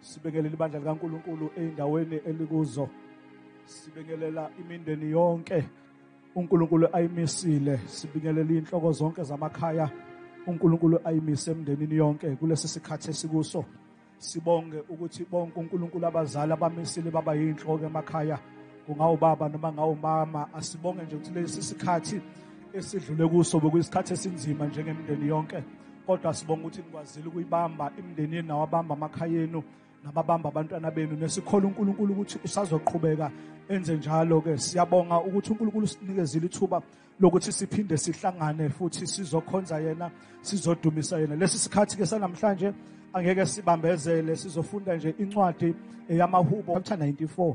Sibingelela ibandla likaNkuluNkulu eindaweni elikuzo. Sibingelela imindeni yonke uNkulunkulu ayimisile. Sibingelela inhloko zonke zamakhaya uNkulunkulu ayimise emndenini yonke kulesi sikhathi esikuso. Sibonge ukuthi bonke uNkulunkulu abazali abamisile baba yinhloko emakhaya. kungawubaba noma ngawumama asibonge nje ukuthi lesi sikhathi esidlule kuso bekuyisikhathi esinzima njengemndeni yonke kodwa sibonga ukuthi nikwazile ukuyibamba imndeni yenu nawabamba amakhaya enu nababamba abantwana benu nesikhola uNkulunkulu ukuthi usazoqhubeka enze njalo ke siyabonga ukuthi uNkulunkulu sinikezile ithuba lokuthi siphinde sihlangane futhi sizokhonza yena sizodumisa yena lesi sikhathi ke sanamhlanje angeke sibambezele sizofunda nje incwadi yamahubo chapter 94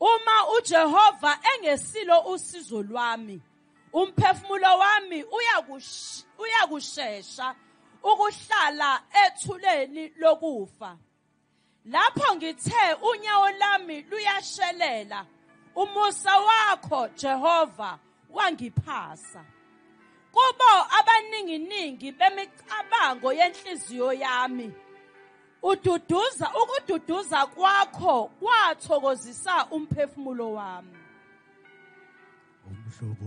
Uma uJehova engesilo usizo lwami, umphefumulo wami uyakushesha ukuhlala ethuleni lokufa. Lapho ngithe unyawo lami luyashelela, umusa wakho Jehova wangiphasa kubo abaninginingi bemicabango yenhliziyo yami ududuza ukududuza kwakho kwathokozisa umphefumulo wami umhlobo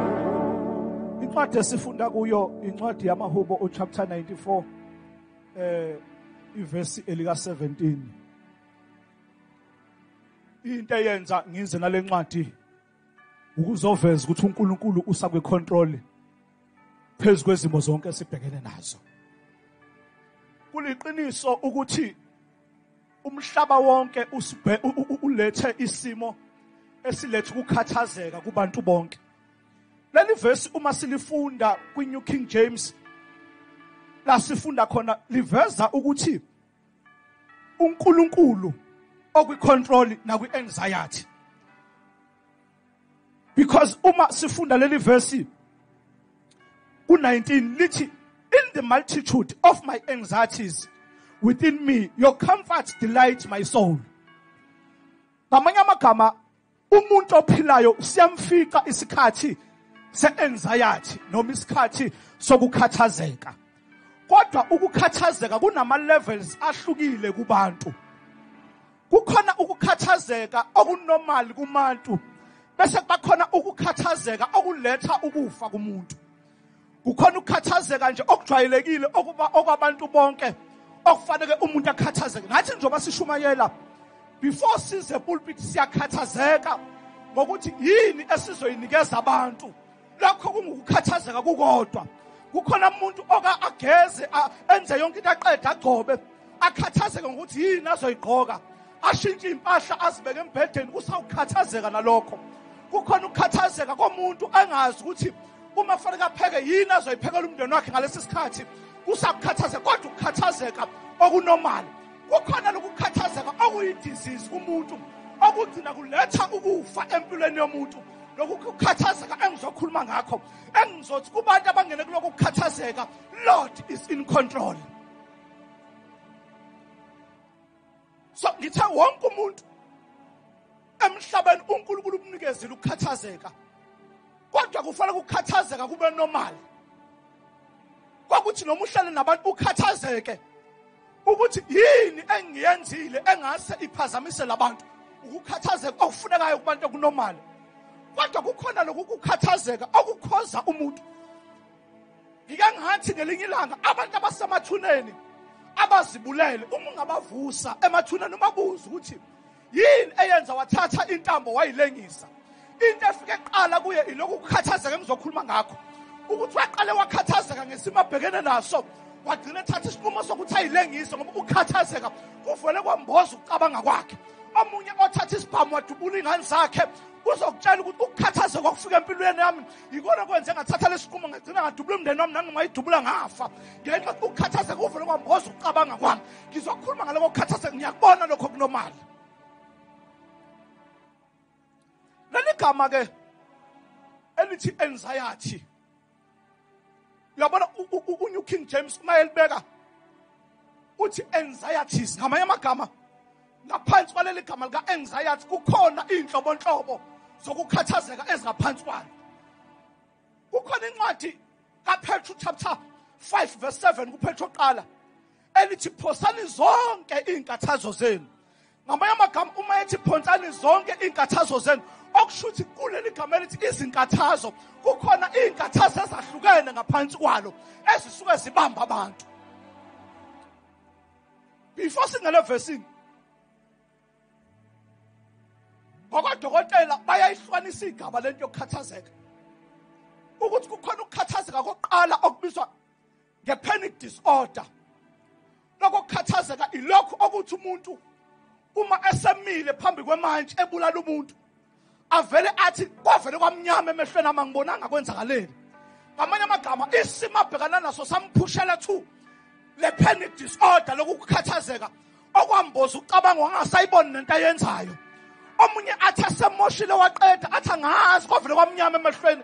incwadi esifunda kuyo incwadi yamahubo uchapter 94 eh ivesi elika 17 into eyenza ngize nalencwadi ukuzoveza ukuthi uNkulunkulu usakwe control phezulu kwezimo zonke esibhekene nazo kuliqiniso ukuthi Umhlaba wonke usibhe ulethe isimo esiletha ukukhathazeka kubantu bonke. Leli verse uma silifunda kwi New King James la sifunda khona liveza ukuthi uNkulunkulu okwi control nakwi anxiety because uma sifunda leli verse ku-19 lithi in the multitude of my anxieties within me your comfort delight my soul ngamanye amagama umuntu ophilayo siyamfica isikhathi se-anxiety noma isikhathi sokukhathazeka kodwa ukukhathazeka kunama-levels ahlukile kubantu kukhona ukukhathazeka okunormal kumantu bese kubakhona ukukhathazeka okuletha ukufa kumuntu kukhona ukukhathazeka nje okujwayelekile okuba okwabantu bonke okufanele umuntu akhathazeke nathi njengoba sishumayela before size pulpit siyakhathazeka ngokuthi yini esizoyinikeza abantu lokho kungukukhathazeka kukodwa kukhona umuntu oka ageze enze yonke into aqede agcobe akhathazeke ngokuthi yini azoyigqoka ashintshe impahla azibeke embhedeni usawukhathazeka nalokho kukhona ukukhathazeka komuntu angazi ukuthi uma kufanele apheke yini azoyiphekela umndeni wakhe ngalesi sikhathi kusakukhathazeka kodwa ukukhathazeka okunomali kukhona lokukhathazeka okuyidisease kumuntu okugcina kuletha ukufa empilweni yomuntu lokhu kukhathazeka engizokhuluma ngakho engizothi kubantu abangene kulokhu kukhathazeka lord is in control so ngithe wonke umuntu emhlabeni uNkulunkulu umnikezile ukukhathazeka kodwa kufanele ukukhathazeka kube normal kwakuthi noma uhlale nabantu ukhathazeke ukuthi yini engiyenzile engase iphazamise labantu ukukhathazeka okufunekayo kubantu okunomali kodwa kukhona lokukukhathazeka okukhoza umuntu ngike ngathi ngelinye ilanga abantu abasemathuneni abazibulele uma ungabavusa emathuneni umabuza ukuthi yini eyenza wathatha intambo wayilengisa into efike qala kuye ilokhu kukhathazeka engizokhuluma ngakho ukuthi waqale wakhathazeka ngesimo abhekene naso wagcina ethatha isinqumo sokuthi ayilengise ngoba ukukhathazeka kuvele kwamboza ukucabanga kwakhe omunye othatha isibhamu wadubula iy'ngane zakhe uzokutshela ukuthi ukukhathazeka okufika empilweni yami yikona kwenze ngathatha lesinqumo ngagcina ngadubula umndeni wami nangingayidubula ngafa ngenxa ukukhathazeka uvele kwamboza ukucabanga kwami ngizokhuluma ngaloko kukhathazeka ngiyakubona lokho kunomali leli gama ke elithi anxiety uyabona unew king james uma elibeka uthi anxieties ngamanye amagama ngaphansi kwaleli gama lika-anxiety kukhona iy'nhlobonhlobo zokukhathazeka ezingaphansi kwalo kukhona incwadi kaphetro chapter 5 verse 7 kuphetro qala elithi phosani zonke iy'nkathazo zenu ngamanye amagama uma ethi phonsani zonke iy'nkathazo zenu okusho ukuthi kuleli gama elithi izinkathazo kukhona iy'nkathazo ezahlukene ngaphansi kwalo ezisuke zibamba abantu before singale vesini ngokodokotela bayayihlwanisa igaba lento yokukhathazeka ukuthi kukhona ukukhathazeka kokuqala okubizwa nge-panic disorder lokukhathazeka ilokhu okuthi umuntu uma esemile phambi kwemantshi ebulala umuntu avele athi kwavele kwamnyama emehlweni ama ngibonanga kwenzakaleni ngamanye amagama isimo abhekana naso samphushela two le panic disorder lokukhathazeka okwamboza ucabanga wangasayiboni nento ayenzayo omunye athi asemoshile waqeda athi angazi kwavele kwamnyama emehlweni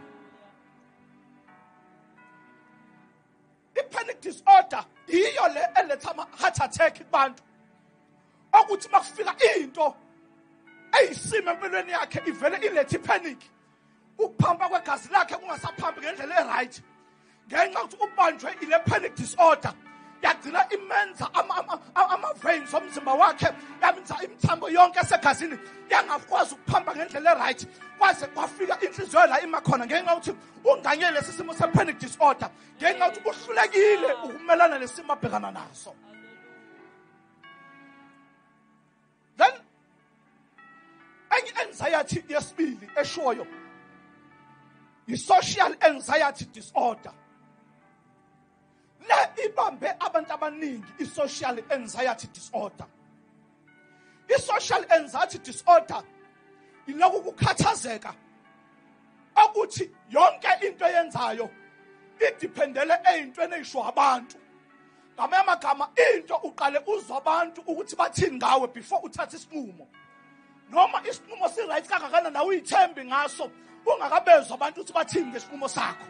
i-panic disorder yiyo le eletha ama-heart attack kubantu okuthi uma kufika into eyisimo empilweni yakhe ivele ilethe i-panic ukuphamba kwegazi lakhe kungasaphambi ngendlela e-right ngenxa ukuthi ubanjwe ile panic disorder yagcina imenza ama-veins omzimba wakhe yamenza imithambo yonke esegazini yangakwazi ukuphamba ngendlela e-right kwaze kwafika inhliziyo la ima khona ngenxa yokuthi unganye lesi simo se-panic disorder ngenxa yokuthi uhlulekile ukumelana nesimo abhekana naso then enye anxiety yesibili eshoyo yi-social anxiety disorder le ibambe abantu abaningi i-social anxiety disorder i-social anxiety disorder yiloku kukhathazeka okuthi yonke into eyenzayo idiphendele eyintweni eyisho abantu ngamanye amagama into uqale uzwa abantu ukuthi bathini ngawe before uthathe isinqumo noma isinqumo si-right kangakanani nawe uyithembi ngaso ungakabezwa abantu ukuthi bathini ngesinqumo sakho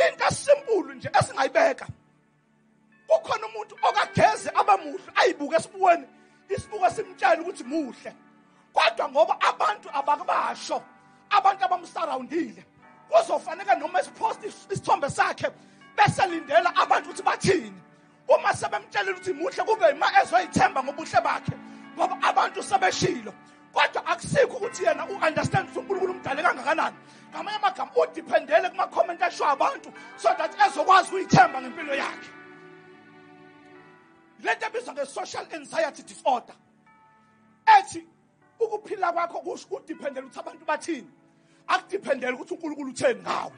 into esimpulu nje esingayibeka kukhona umuntu okageze abamuhle ayibuke esibuweni isibuko simtshela ukuthi muhle kodwa ngoba abantu abakubasho abantu abamsurroundile kuzofanele noma esipost isithombe sakhe bese lindela abantu ukuthi bathini uma sebemtshelile ukuthi muhle kube yima ezoyithemba ngobuhle bakhe ngoba abantu sebeshilo kodwa akusikho ukuthi yena u-understand ukuthi unkulunkulu umdale kangakanani ngamanye amagama udiphendele kuma-comment ashiwo abantu so that ezokwazi ukuyithemba ngempilo yakhe le nto ebizwa nge-social anxiety disorder ethi ukuphila kwakho kusho kudiphendela ukuthi abantu bathini akudiphendela ukuthi unkulunkulu utheni ngawe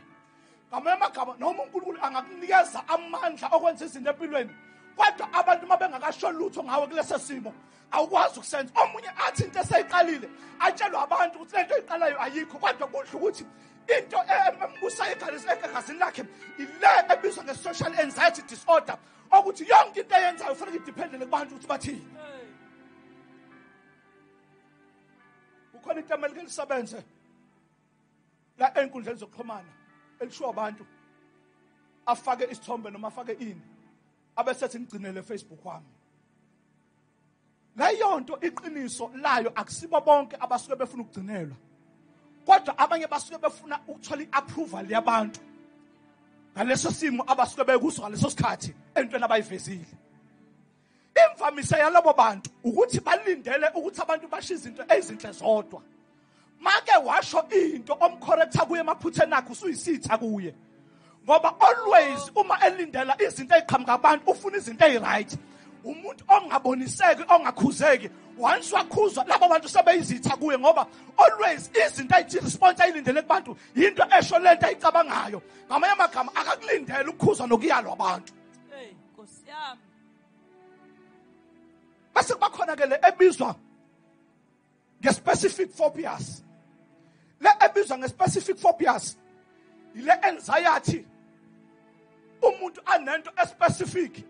ngamanye amagama noma unkulunkulu angakunikeza amandla okwenza izinto empilweni kodwa abantu uma bengakasho lutho ngawe kulesi simo awukwazi ukusenza omunye athi into eseyiqalile atshelwe abantu ukuthi le nto oyiqalayo ayikho kodwa kudla ukuthi into embusayo egazini lakhe ile ebizwa nge-social anxiety disorder okuthi yonke into eyenzayo ufanele idependele kubantu ukuthi bathini kukhona into emelike lisebenze la enkundleni zokuxhumana elishiwo abantu afake isithombe noma afake ini abesethi ngigcinele Facebook wami leyonto iqiniso layo akusibo bonke abasuke befuna ukugcinelwa kodwa abanye basuke befuna ukuthola iapproval yabantu ngaleso simo abasuke bekuso ngaleso sikhathi entweni abayivezile imvamisa yalabo bantu ukuthi balindele ukuthi abantu basho izinto ezinhle zodwa make washo into omcorrecta kuye emaphutheni akhe usuyisitha kuye ngoba always uma elindela izinto eziqhamuka abantu ufuna izinto eziright umuntu ongaboniseki ongakhuzeki once wakhuzwa laba bantu sebeyizitha kuye ngoba always izinto ayithi response ayilindele kubantu yinto esho lento ayicabangayo ngamanye amagama akakulindele ukukhuzwa nokuyalwa abantu hey nkosi yami base kubakhona ke le ebizwa nge-specific phobias le ebizwa nge-specific phobias yile anxiety umuntu anento especific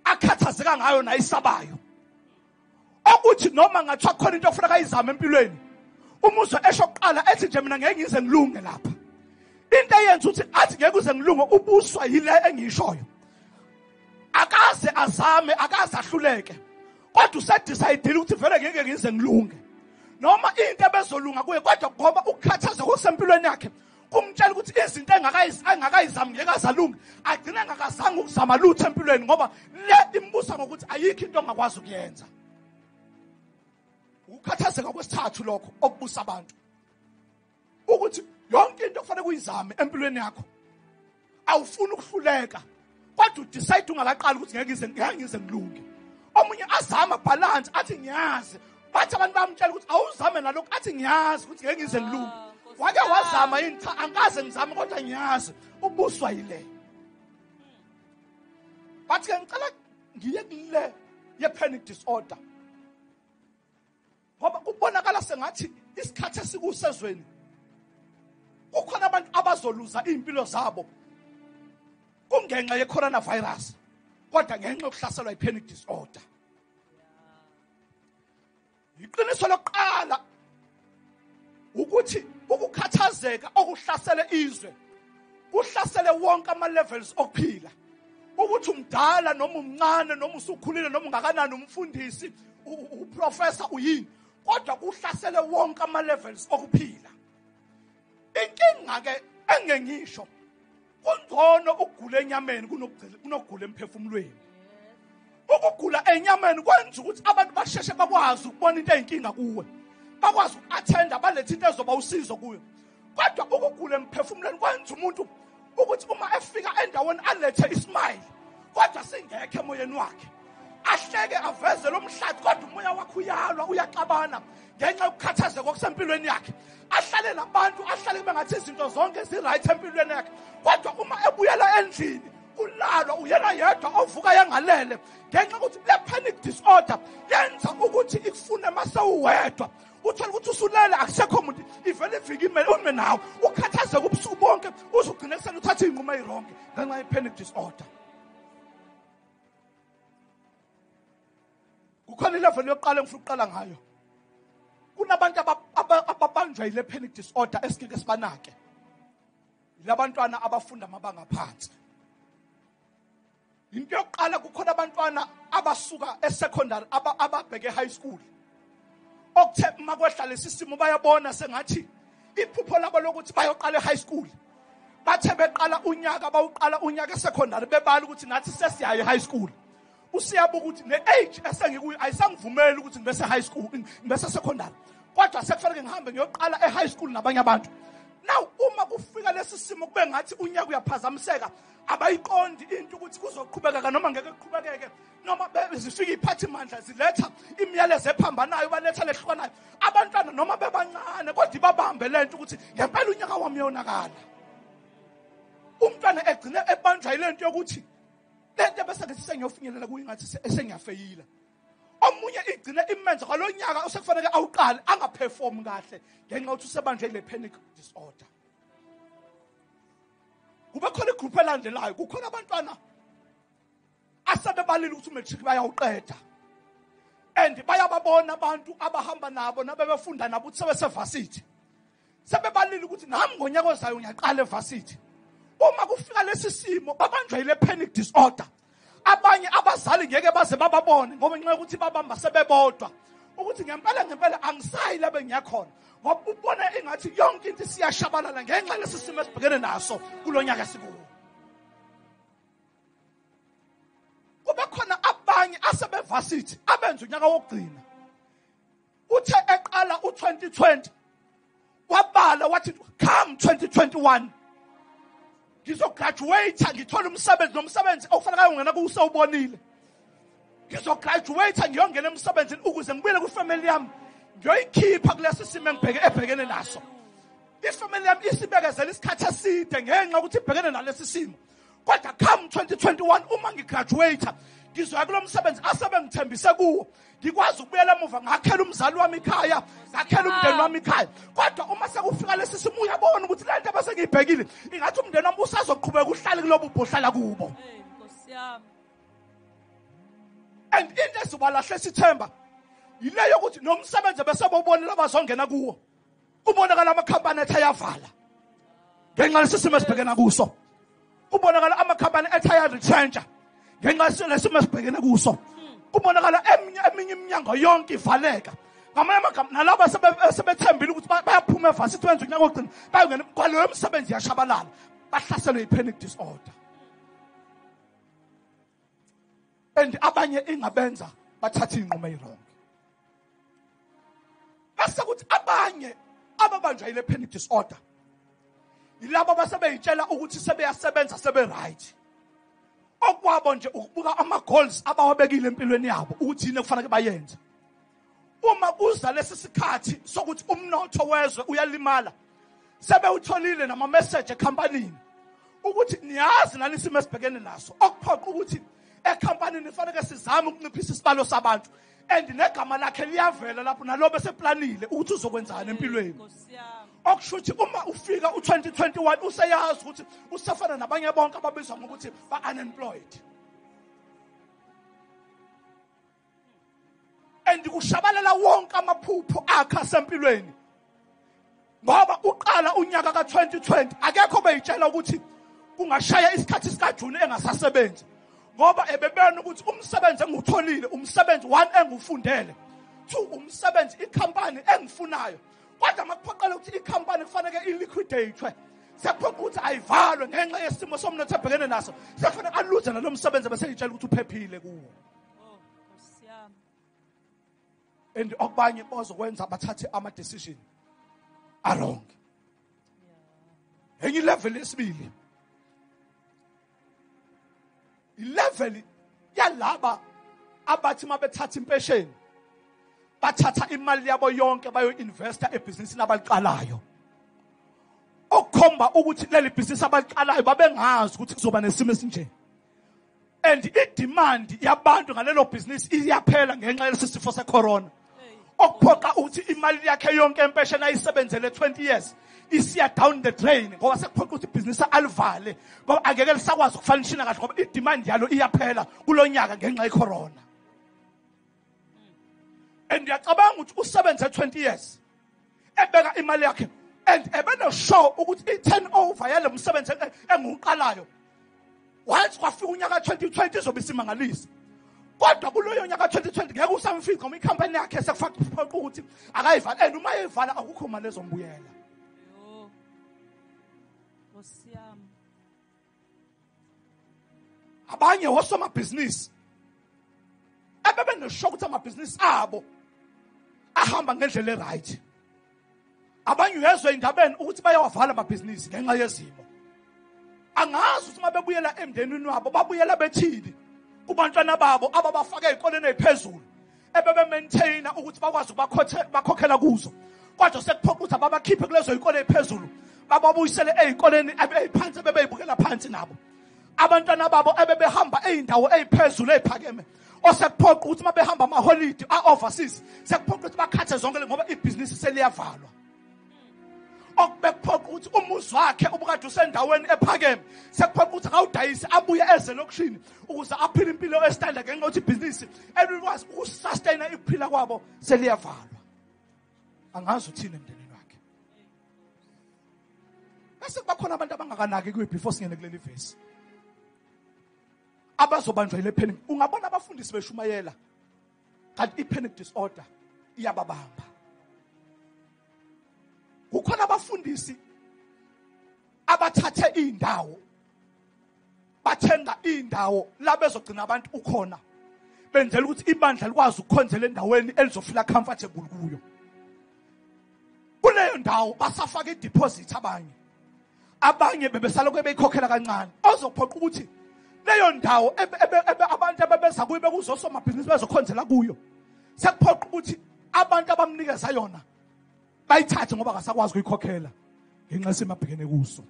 akhathazeka ngayo nayisabayo okuthi noma ngathiwa khona into okufuneka ayizame empilweni umuzwe esho kuqala ethi nje mina ngeke ngize ngilunge lapha into eyenza ukuthi athi ngeke uze ngilunge ubuswa yile engishoyo akaze azame akaze ahluleke kodwa usedecide ukuthi vele ngeke ngize ngilunge noma into ebezolunga kuye kodwa ngoba ukukhathaza kusempilweni yakhe kumtshela ukuthi izinto engakayizami ngeke azalunge agcine engakazange ukuzama lutho empilweni ngoba le imbusa ngokuthi ayikho into ongakwazi ukuyenza ukukhathazeka kwesithathu lokho okubusa abantu ukuthi yonke into kufanele kuyizame empilweni yakho awufuni ukuhluleka kodwa udecide ungakaqali ukuthi ngeke ngize ngeke ngize ngilunge omunye azama balance athi ngiyazi bathi abantu bamtshela ukuthi awuzame nalokho athi ngiyazi ukuthi ngeke ngize ngilunge ah, wake wazama yini cha angikaze ngizame kodwa ngiyazi ubuswa yile bathi ke ngicela ngiye kule ye panic disorder ngoba kubonakala sengathi isikhathi esikusezweni kukhona abantu abazoluza iy'mpilo zabo kungenxa ye-coronavirus kodwa ngenxa yokuhlaselwa i-panic disorder iqiniso lokuqala ukuthi ukukhathazeka okuhlasele izwe kuhlasele wonke ama levels okuphila ukuthi umdala noma umncane noma usukhulile noma ungakanani umfundisi uprofessor uyini kodwa kuhlasele wonke ama levels okuphila inkinga ke engengisho kungcono ukugula enyameni kunokugula emphefumulweni ukugula enyameni kwenza ukuthi abantu basheshe bakwazi ukubona into eyinkinga kuwe bakwazi uku-athenda balethe into ezoba usizo kuyo kodwa ukugula emphefumulweni kwenza umuntu ukuthi uma efika endaweni alethe ismile kodwa singekho emoyeni wakhe ahleke aveze lo mhlathi kodwa umoya wakhe uyalwa uyaxabana ngenxa yokukhathazeka okusempilweni yakhe ahlale nabantu ahlale kube ngathi izinto zonke zi-right empilweni yakhe kodwa uma ebuyela endlini kulalwa uyena yedwa ovuka yangalele ngenxa yokuthi le panic disorder yenza ukuthi ikufune uma sewuwedwa uthole ukuthi usulele akusekho muntu ivele ivike imele ume nawe ukhathazeka ubusuku bonke uze ugcine kusena uthathe iy'nqumo eyironke ngenxa ye-panic disorder kukhona ileveli yokuqala engifuna ukuqala ngayo kunabantu ababanjwa yile panic disorder esingeke sibanake labantwana abafunda amabanga phansi into yokuqala kukhona abantwana abasuka esecondary ababheke high school okuthe uma kwehla lesi simo bayabona sengathi iphupho labo lokuthi bayoqala e-high school bathe beqala unyaka bawuqala unyaka esecondary bebala ukuthi nathi sesiyayo e-high school usiyabuka ukuthi le age esengikuyo ayisangivumeli ukuthi ngibe se-high school ngibe se-secondary kodwa sekufanele ngihambe ngiyoqala e-high school nabanye abantu now uma kufika lesi simo kube ngathi unyaka uyaphazamiseka abayiqondi into ukuthi kuzoqhubekeka noma ngeke kuqhubekeke noma zifika iy'phathimandla ziletha imiyalezo ephambanayo baletha lehlukanayo abantwana noma bebancane kodwa ibabambe le nto ukuthi ngempela unyaka wami yonakala umntwana egcine ebanjwa yile nto yokuthi le nto bese ngithi sengiyofinyelela kuyo ingathi sengiyafeyila omunye igcine imenza kwalo nyaka osekufanele awuqale angaperform kahle ngenxa yokuthi usebanjwe ile panic disorder kube khona igroup elandelayo kukhona abantwana asebebalile ukuthi umatric bayawuqeda and bayababona abantu abahamba nabo nabebefunda nabo ukuthi sebesevasithi sebebalile ukuthi nami ngonyaka ozayo ngiyaqala evasithi uma kufika lesi simo babanjwa yile panic disorder abanye abazali ngeke baze bababone ngoba ngenxa yokuthi babamba sebebodwa ukuthi ngempela ngempela angisayi la bengiyakhona ngoba ubona engathi yonke into siyashabalala ngenxa lesi simo esibhekene naso kulo nyaka sikuwo kube khona abanye asebevasithi abenza unyaka wokugcina uthe eqala u2020 wabala wathi come 2021 ngizograduate ngithola umsebenzi nomsebenzi okufanele ayongena kuwuse ubonile ngizograduate ngiyongena emsebenzini ukuze ngibuyele kwifamily yami ngiyoyikhipha kulesi simo engibheke ebhekene naso ifamily yami isibekezela isikhathi eside ngenxa ukuthi ibhekene nalesi simo kodwa come 2021 uma ngigraduate ngizoya kulo msebenzi asebengithembise kuwo ngikwazi ukubuyela emuva ngakhela umzali wami ikhaya ngakhela umndeni wami ikhaya kodwa uma sekufika lesi simo uyabona ukuthi le nto bese ngiyibhekile ingathi umndeni wami usazoqhubeka uhlale kulobo ubhohlala kubo and into ezibalahle sithemba yile yokuthi nomsebenzi besebobonela bazongena kuwo kubonakala amakhampani ethi ayavala ngenxa lesisimo esibhekena kuso kubonakala amakhampani ethi ayaretrentsha ngenxa lesimo esibhekene kuso kubonakala eminye eminye iminyango yonke ivaleka ngamanye amagama nalabo asebethembile ukuthi bayaphuma evasi ithi wenza unyaka wokugcina bayongena kwaleyo msebenzi yashabalala bahlaselwe yi-panic disorder and abanye ingabenza bathathe inqumo eyirongo bese kuthi abanye ababanjwa yile panic disorder yilabo basebeyitshela ukuthi sebeyasebenza sebe right okwabo nje ukubuka ama goals abawabekile empilweni yabo ukuthi yini ekufanele bayenze uma kuza lesi sikhathi sokuthi umnotho wezwe uyalimala sebewutholile nama message ecompanyini ukuthi niyazi nani isimo esibhekene naso okuphoqa ukuthi ecompanyini ifanele sizame ukunciphisa isibalo sabantu and negama lakhe liyavela lapho nalobe seplanile ukuthi uzokwenzani empilweni okusho ukuthi uma ufika u2021 useyazi ukuthi usafana nabanye bonke ababizwa ngokuthi ba unemployed and kushabalala wonke amaphupho akhe asempilweni ngoba uqala unyaka ka-2020 akekho beyitshela ukuthi kungashaya isikhathi sikajuni engasasebenzi ngoba ebebona ukuthi umsebenzi engiwutholile umsebenzi one engiwufundele two umsebenzi ikhampani engifunayo kodwa makuphoqela ukuthi ikhampani kufaneke iliquidate sekuphoqa ukuthi ayivalwe ngenxa yesimo somnotho ebhekene naso sekufanele aluze nalo msebenzi bese ngitshela ukuthi uphephile kuwo and okubanye bazokwenza bathathe ama decision a wrong enye level lesibili ilevel yalaba abathi mabethatha impesheni bathatha imali yabo yonke bayo investa ebhizinisini abaliqalayo okukhomba ukuthi leli bhizinisi abaliqalayo babengazi ukuthi kuzoba nesimo esinjeni and idemand yabantu ngalelo business iyaphela ngenxa yalesi sifo secorona okuphoqa ukuthi imali yakhe yonke empesheni ayisebenzele 20 years isiya down the drain ngoba sekuphoqa ukuthi ibhizinisi alivale ngoba angeke lisakwazi ukufanishina kahle ngoba idemand yalo iyaphela kulo nyaka ngenxa yecorona and ngiyacabanga ukuthi usebenze 20 years ebeka imali yakhe and ebenoshow ukuthi i-turnover yale msebenzi engiwuqalayo once kwafika unyaka 2020 izobe isimangalisa kodwa kuloyo nyaka 2020 ngeke usamfica uma ikhampani yakhe sekufaqiphoqa ukuthi akayivala and uma eyivala akukho mali ezombuyela abanye wosomabhizinisi ebebeneshoka ukuthi amabhizinisi abo ahamba ngendlela eright abanye uyezwa indabeni ukuthi bayawavala amabhizinisi ngenxa yezimo angazi ukuthi uma bebuyela emndenini wabo babuyela bethini kubantwana babo ababafake ezikoleni eziphezulu ebebe maintainer ukuthi bakwazi ukubakhokhela kuzo kodwa sekuphoqa ukuthi ababakhiphe kulezo zikole eziphezulu bababuyisele ezikoleni ebeyiphansi ebebeyibukela phansi nabo abantwana babo ebebehamba ezindawo eziphezulu eziphakeme osekuphoqa ukuthi uma behamba amaholidi a-overseas sekuphoqa ukuthi bakhathe zonke ngoba ibhizinisi seliyavalwa okubekuphoqa ukuthi umuzi wakhe ubukade usendaweni ephakeme sekuphoqa ukuthi akawudayise abuye eze lokushini ukuze aphile impilo esitanda ngenxa yokuthi ibhizinisi elikwazi ukusustayina ikuphila kwabo seliyavalwa angazi uthini emndenini wakhe bese kuba khona abantu abangakanaki kuyo before singene kuleli vesi abazobanjwa yile phela ungabona abafundisi beshumayela kanti i-panic disorder iyababamba kukhona abafundisi abathathe iy'ndawo bathenga iy'ndawo la bezogcina abantu ukhona benzela ukuthi ibandla likwazi ukukhonzela endaweni elizofila comfortable kuyo kuleyo ndawo basafaka ideposit abanye abanye bebesalokhu beyikhokhela kancane ozophoqa ukuthi leyo ndawo abantu abebeza kuyo bekuzosomabhizinisi bezokhonzela kuyo sekuphoqa ukuthi abantu abamnikeza yona bayithathe ngoba akasakwazi ukuyikhokhela ngenxa yesimo abhekene kuso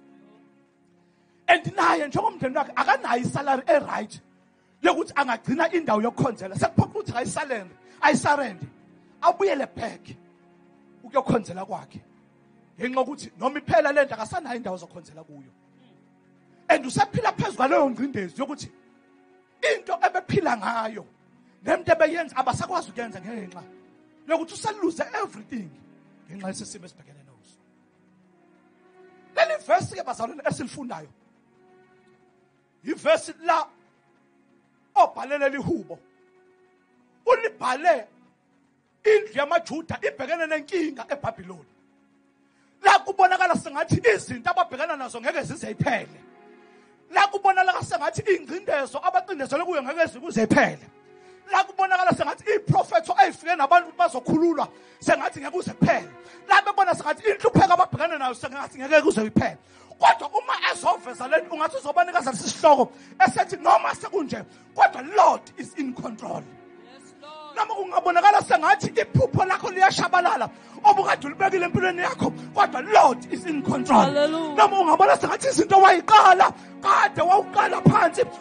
and naye njengomndeni wakhe akanayo isalary e-right lokuthi angagcina indawo yokukhonzela sekuphoqa ukuthi ayisalende ayisarende abuyele back ukuyokhonzela kwakhe ngenxa yokuthi noma iphela le nto akasanayo indawo zokhonzela kuyo and usephila phezu kwaleyo ngcindezi yokuthi into ebephila ngayo nento ebeyenza abasakwazi ukuyenza ngenxa yokuthi useluze everything ngenxa yesisimo esibhekene naso leli verse ke bazalwane esilifundayo yivesi la obhalele lihubo ulibhale indlu yamajuda ibhekene nenkinga ebhabhiloni la kubonakala sengathi izinto ababhekana nazo ngeke zize iphele la kubonakala sengathi ingcindezo abacindezelwe kuyo ngeke zikuze iphele la kubonakala sengathi iprofetho ayifike nabantu bazokhululwa sengathi ngeke uze kuphele la bebona sengathi inhlupheko ababhekane nayo sengathi ngeke kuze kuphele kodwa uma ezoveza lento ungathi uzobanika sasihloko esethi noma sekunje kodwa lord is in control noma kungabonakala sengathi iphupho lakho liyashabalala obukade ulibekile empilweni yakho kodwa lord is in control noma ungabona sengathi izinto wayiqala kade wawuqala phansi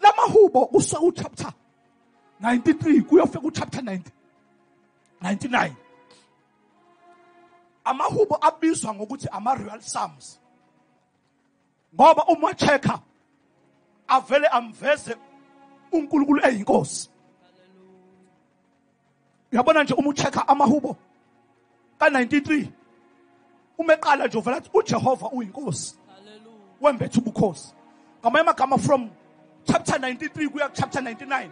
lamahubo kuse u chapter 93 kuyofika u chapter 90 99 amahubo abizwa ngokuthi ama real psalms ngoba uma checka avele amveze uNkulunkulu eyinkosi uyabona nje uma ucheck-a amahubo ka-93 uma eqala nje uvela athi ujehova uyinkosi wembetha ubukhosi ngamanye amagama from chapter 93 kuya kuchapter 99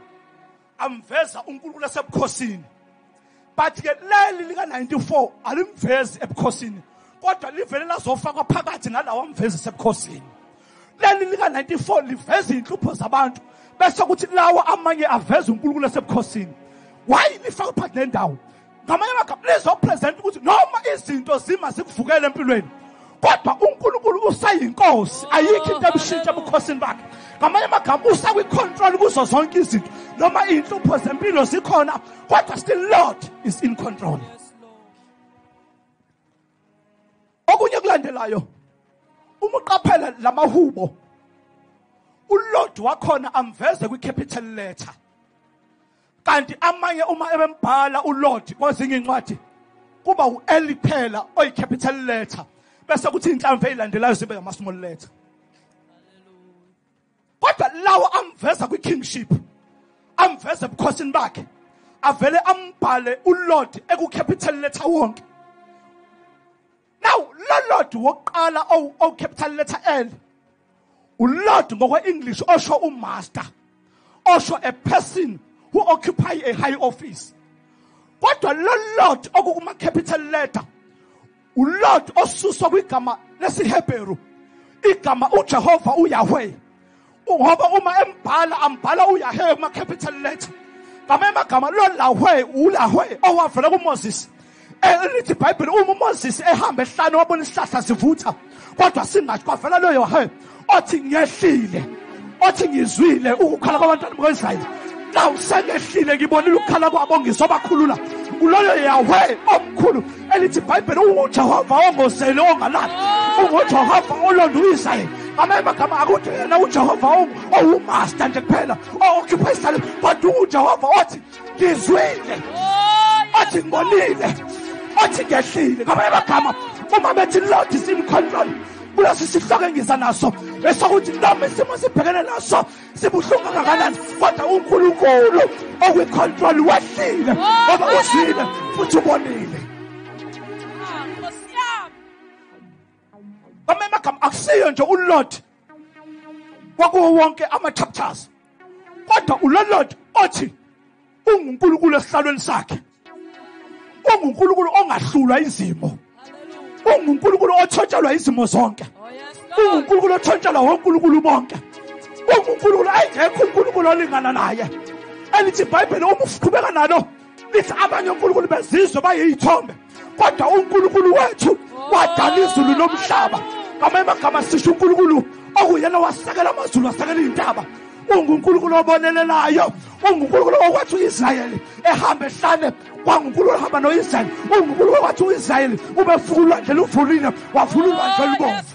amveza unkulunkulu esebukhosini but ke leli lika-94 alimvezi ebukhosini kodwa livele lazofakwa phakathi nalawa amvezi esebukhosini leli lika-94 liveza iy'nhlupho zabantu bese kuthi lawa amanye aveza unkulunkulu asebukhosini wayi lifaka phakathi nendawo ngamanye amagama lizopresenta ukuthi noma izinto zima zikuvukele empilweni kodwa unkulunkulu usayinkosi ayikho into ebushintsha ebukhosini bakhe ngamanye amagama usakwicontrol kuzo zonke izinto noma iy'nhlupho zempilo zikhona kodwa still lord is in control okunye kulandelayo uma uqaphela lamahubo ulord wakhona amveze kwicapital letter kanti amanye uma ebembhala ulord kwezinye incwadi kuba u-l phela oyicapital letter bese kuthi inhlamvu eyilandelayo zibe ngama-small letter kodwa lawo amveza kwi-kingship amveze ebukhosini bakhe avele ambhale ulord ekucapital letter wonke now lo lord wokuqala owucapital letter l ulord ngokwe-english osho umaster osho a person who occupy a high office kodwa lo lord okukuma-capital letter uLord osuswa kwigama lesiHebheru igama uJehova uYahweh ngoba uma embhala ambhala uYahweh kuma capital letter ngama emagama lo lahwe ulahwe owavela kuMoses elithi iBhayibheli uma uMoses ehamba ehlane wabona isihlahla sivutha kodwa singathi kwavela lo Yahweh othi ngehlile othi ngizwile ukukhala kwabantwana bakwaIsrayeli nawu sengehlile ngibonile ukukhala kwabo ngizobakhulula kuloyo yawe omkhulu elithi ibhayibheli ungujehova ongozeli ongalali ungujehova olonda uisrayeli ngamanye amagama akuthi yena ujehova owumaster nje kuphela o-occupy isalem kodwa ungujehova othi ngizwile othi ngibonile othi ngehlile ngamanye amagama uma bethi lord is in control kulesi sihloko engiza naso esokuthi noma isimo sibhekene naso sibuhlungu kangakanani kodwa unkulunkulu okwicontrol wehlile ngoba uzwile futhi ubonile bamanye amagama akusiyo nje ulord kwakuwo wonke ama-chapters kodwa ulolord othi ungunkulunkulu esihlalweni sakhe ungunkulunkulu ongahlulwa izimo ungunkulunkulu othontshelwa izimo zonke ungunkulunkulu othontshelwa wonkulunkulu bonke ungunkulunkulu engekho unkulunkulu olingana naye elithi ibhayibheli uma uqhubeka nalo lithi abanye onkulunkulu bezizwe bayiyithombe kodwa unkulunkulu wethu wadala izulu nomhlaba ngamanye amagama sisho unkulunkulu okuyena wasekela amazulu wasekela iy'ntaba ungunkulunkulu obonelelayo ungunkulunkulu okwathi u-israyeli ehamba ehlane kwangunkulunkulu ohamba no-israyeli ungunkulunkulu okwathi u-israyeli ubefuka ulwandle luvulile wavula ulwandle olubomvu